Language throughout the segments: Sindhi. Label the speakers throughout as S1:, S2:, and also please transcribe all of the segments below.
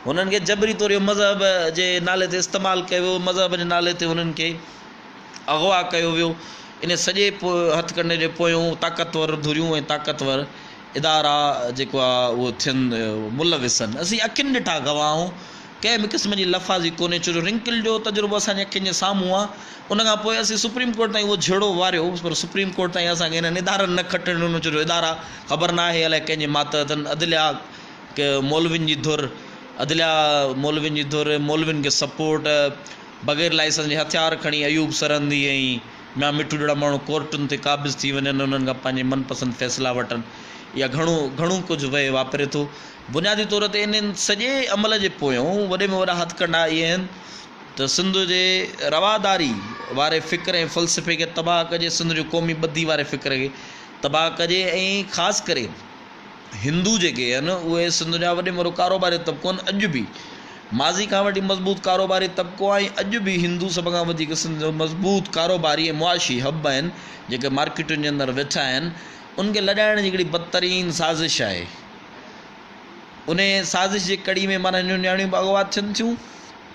S1: هنن کي جبري طور اهو مذهب جي نالي تي استعمال ڪيو ويو، مذهب جي نالي تي هنن کي اغوا ڪيو ويو، ان سڄي هٿ ڪنڊي جي پويون طاقتور ڌريون ۽ طاقتور ادارا جيڪو آهي اهو ٿين ملوث آهن، اسين اکين ڏٺا گواهه آهون، ڪنهن به قسم جي لفاظي ڪونهي ڇو جو رنڪل جو تجربو اسان جي اکين جي سامهون آهي، ان کان پوء اسين سپريم ڪورٽ تائين اهو جهيڙو واريو پر سپريم ڪورٽ تائين اسان کي هنن ادارن نه کٽڻ ڏنو ڇو جو ادارا خبر ناهي الائي ڪنهن جي ماتحت آهن، عدليا. ڪي مولوين جي ڌر، عدليا مولوين جي ڌر ۽ مولوين کي سپورٽ، بغير لائسنس جي هٿيار کڻي ايوب سرهندي ۽ ميان مٺو جهڙا ماڻهو ڪورٽن تي قابض ٿي وڃن ۽ انهن کان پنهنجي من پسند فيصلا وٺن، اها گهڻو گهڻو ڪجهه ويهه واپري ٿو. بنيادي طور تي انهن سڄي عمل جي پويون وڏي ۾ وڏا هٿڪنڊا اهي آهن ته سنڌ جي رواداري واري فڪر ۽ فلسفي کي تباهه ڪجي، سنڌ جو قومي ٻڌي واري فڪر کي تباهه ڪجي ۽ خاص ڪري هندو جيڪي هن اهي سنڌ جا وڏي مرو ڪاروباري طبقو هن اڄ به ماضي کان وٺي مضبوط ڪاروباري طبقو آهي ۽ اڄ به هندو سڀ کان وڌيڪ سنڌ جو مضبوط ڪاروباري ۽ معاشي حب آهن جيڪي مارڪيٽن جي اندر ويٺا آهن ان کي لڏائڻ جي هڪڙي بدترين سازش آهي انهي سازش جي ڪڙي ۾ مانا نياڻيون به اغوا ٿين ٿيون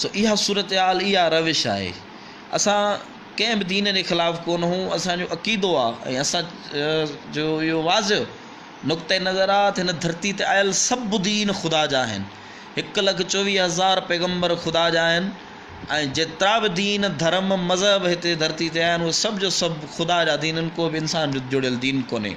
S1: سو اها صورتحال اها روش آهي اسان ڪنهن به دين جي خلاف ڪونه هون اسان جو عقيدو آهي ۽ اسان جو اهو واضح نقطه نظر آهي ته هن ڌرتي تي آيل سڀ دين خدا جا آهن هڪ لک چوويهه هزار پيغمبر خدا جا آهن ۽ جيترا به دين ڌرم مذهب هتي ڌرتي تي آهن اهي سڀ جو سڀ خدا جا دين آهن ڪو به انسان جو جڙيل دين ڪونهي